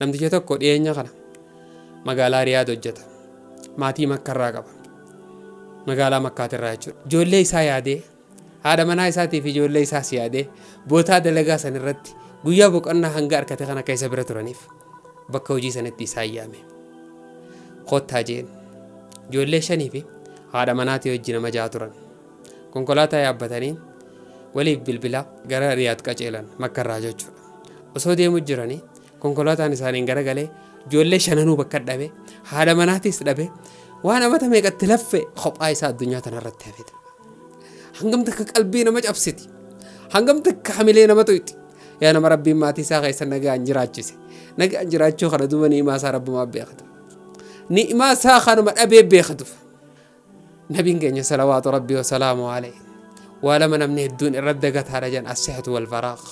Namticha tokko dhiyeenya kana magaalaa Riyaad hojjeta. Maatii Makkarraa qaba. Magaalaa Makkaatirraa jechuudha. Ijoollee isaa yaadee, haadha manaa isaatii fi ijoollee isaas yaadee bootaa dalagaa san irratti guyyaa boqonnaa hanga arkate kana akka isa bira turaniif bakka hojii sanitti isaa yaame. Kottaa jeen. Ijoollee shanii fi haadha manaatii hojii nama ja'a turan. Konkolaataa yaabbatanii waliif bilbilaa gara Riyaad qaceelan Makkarraa jechuudha. Osoo deemu jiranii Konkolaataan isaaniin garagalee ijoollee shananuu bakka dhabe haadha manaatiis dhabe waan amata meeqatti laffe kophaa isaa addunyaa tanarratti hafete. Hangam takka qalbii nama cabsiti. Hangam takka hamilee nama tuyxi. Yaa nama rabbiin maatii isaa keessa nagaan jiraachise. Nagaan jiraachuu kana duuba ni'imaa isaa rabbumaa beekatu. Ni'imaa isaa kanuma dhabee beekatuuf. Nabiin keenya salawaatu rabbii wasalaamu alayhi waa lama namni hedduun irra dagataadha jedhan assihatu wal faraaq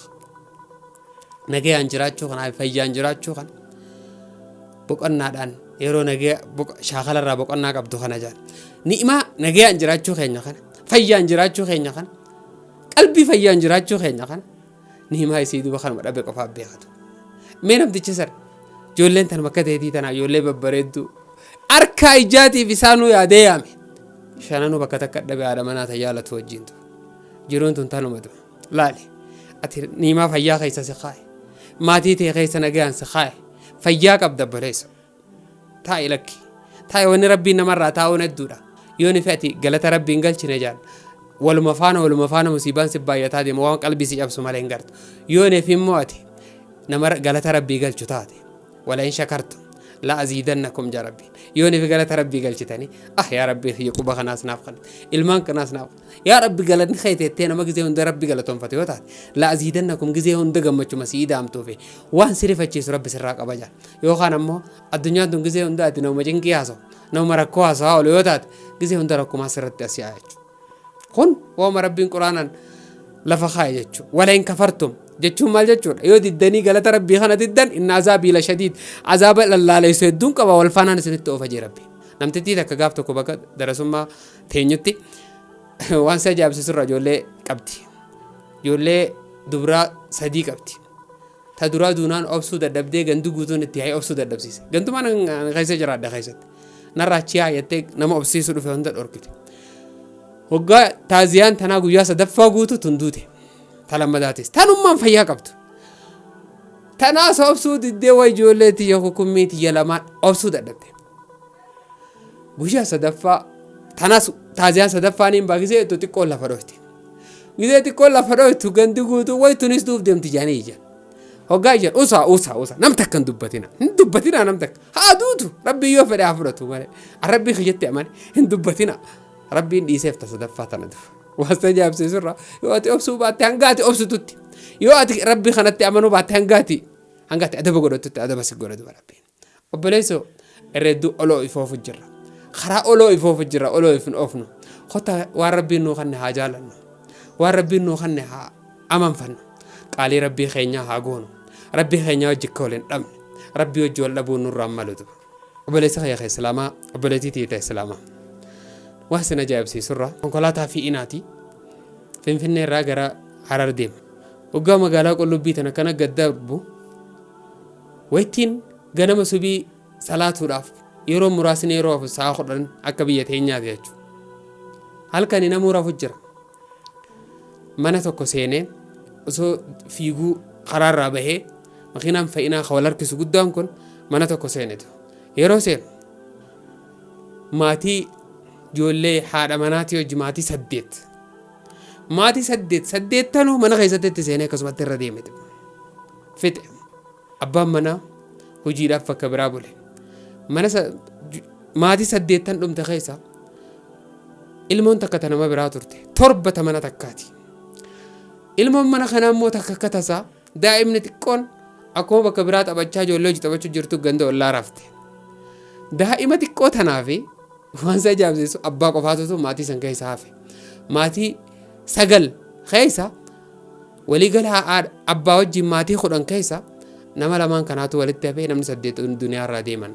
nagayaan jiraachuu kanaa fi fayyaan jiraachuu kana boqonnaadhaan yeroo nagaya boq- shaakalarraa boqonnaa qabdu kana jedhan ni'imaa nagayaan jiraachuu keenya kana fayyaan jiraachuu keenya kana qalbii fayyaan jiraachuu keenya kana Nihimaa isii duuba kanuma dhabe qofaa beekatu. Mee namticha sana ijoolleen tanuma akka ta'eetii tanaa ijoollee babbareedduu harkaa ijaatiif isaanuu yaadee yaame. Shananuu bakka takka dhabe haadha manaa ta jaalatu wajjin ture. Jiruun tun tanuma ture. Laali ati nihimaa fayyaa keessa si kaaye. Maatii tee keessa nagaan si kaaye. Fayyaa qabda obboleessa. taa'i lakki taa'i wanni rabbiin namarraa taa'uun hedduudha yoo ni fe'ati galata rabbiin galchine jaan waluma faana waluma faana musiibaan si baay'ataa deema waan qalbii si cabsu malee hin gartu yoo neef immoo ati nama galata rabbii galchu taate wala in shakartu la aziidannakum jaa rabbiin yoo neef galata rabbii galchitanii ah yaa rabbii kiyya quba kanaas naaf kan ilmaan kanaas naaf Yaa Rabbi galanni kee teettee nama gizee hunda Rabbi galatoonfate yoo taate la'aziidannakum gizee hunda gammachuma si idaamtuufi waan si rifachiisu Rabbi sirraa qabaja yookaan ammoo addunyaan tun gizee hunda ati nama cinqii haasa'u nama rakkoo haasa'aa oolu yoo taate gizee hunda rakkumaa sirratti as yaa'a jechuudha. Kun waama Rabbiin Quraanan lafa kaa'e jechuudha. Walain kafartum jechuun maal jechuudha yoo diddanii galata Rabbii kana diddan inni azaabii la shadiid azaaba lallaaleessu hedduun qaba wal faanaan isinitti oofa jee Rabbi. Namtittii takka gaaf tokko bakka darasummaa teenyutti waan si ajaa'ibsiisurraa ijoollee qabdi. Ijoollee dubraa sadii qabdi. Ta duraa duunaan obsuu dadhabdee gandu guutuun itti yaa'ee obsuu dadhabsiise. Gantumaan keessa jira adda keessatti. Narraa achi yaayattee nama obsiisuu dhufe hunda dhorkite. Waggaa taaziyaan tanaa guyyaa sadaffaa guutu tun duute. Ta lammadaatis. Tanummaan fayyaa qabdu. Tanaas obsuu diddee waa ijoollee tiyya kukummii tiyya lamaan obsuu dadhabde. Guyyaa sadaffaa tanas taaziyaa sadaffaa niin bagisee itti xiqqoon lafa dhoyte. Gisee xiqqoon lafa dhoytu gandi guutuu wayitunis duuf deemti jaanii ija. Hoggaa ija usaa usaa usaa nam takka hin dubbatina. Hin dubbatina nam takka. Haa duutu rabbii yoo fedhe haa fudhatu malee. An rabbii kiyyatti amane hin dubbatina. Rabbiin dhiiseef ta sadaffaa tana duuf. Waasta jaabsiisurra yoo ati obsuu baatte hanga ati obsitutti. Yoo ati rabbii kanatti amanuu baatte hanga ati hanga ati adaba godhatutti adaba si godha duba rabbiin. Obboleessoo, irra hedduu ol of oofu jirra. Karaa ol of oofu jirra, ol of hin oofnu. Kottaa waan Rabbiin nuu kanne haa jaalannu. Waan Rabbiin nuu kanne haa amanfannu. Qaalii Rabbii keenyaa haa goonu. Rabbii keenyaa wajji akka wal hin dhabne. Rabbii wajji wal dhabuun nurraa hin malutu. Obboleessa kiyya ka Islaamaa, obboleettii tiyya ta Islaamaa. Waan sin ajaa'ibsiisurra konkolaataa fi'inaati. Finfinnee irraa gara Harar deema. Waggaa magaalaa qullubbii tan akkana gad darbu Waytiin ganama subii salaatuudhaaf yeroon muraasni yeroo hafu sa'a kudhan akka biyya teenyaati jechu. Halkani namuu rafu jira. Mana tokko seenee osoo fiiguu karaarraa bahee makiinaan fa'inaa ka wal harkisu guddaan kun mana tokko seenetu. Yeroo seenu maatii ijoollee haadha manaatii hojii maatii saddeet. Maatii saddeet saddeettanuu mana keessatti itti seenee akkasumatti irra deemete. fixe. Abbaan manaa hojiidhaaf bakka biraa bule. Mana sa- ju- maatii saddeettan dhumte keessa ilmoon takka ta nama biraa turte. Torba ta mana takkaati. Ilmoon mana kanaa immoo takka akka tasaa daa'imni xiqqoon akkuma bakka biraa taphachaa ijoollee hojii taphachuu jirtu ganda ollaa rafte. Daa'ima xiqqoo tanaa fi waan isa ajaa'ibsiisu abbaa qofaatu maatii san keessa hafe. Maatii sagal keessa Waliigala haadha abbaa wajjin maatii kudhan keessa nama lamaan kanaatu walitti hafee namni saddeet duniyaarraa deeman.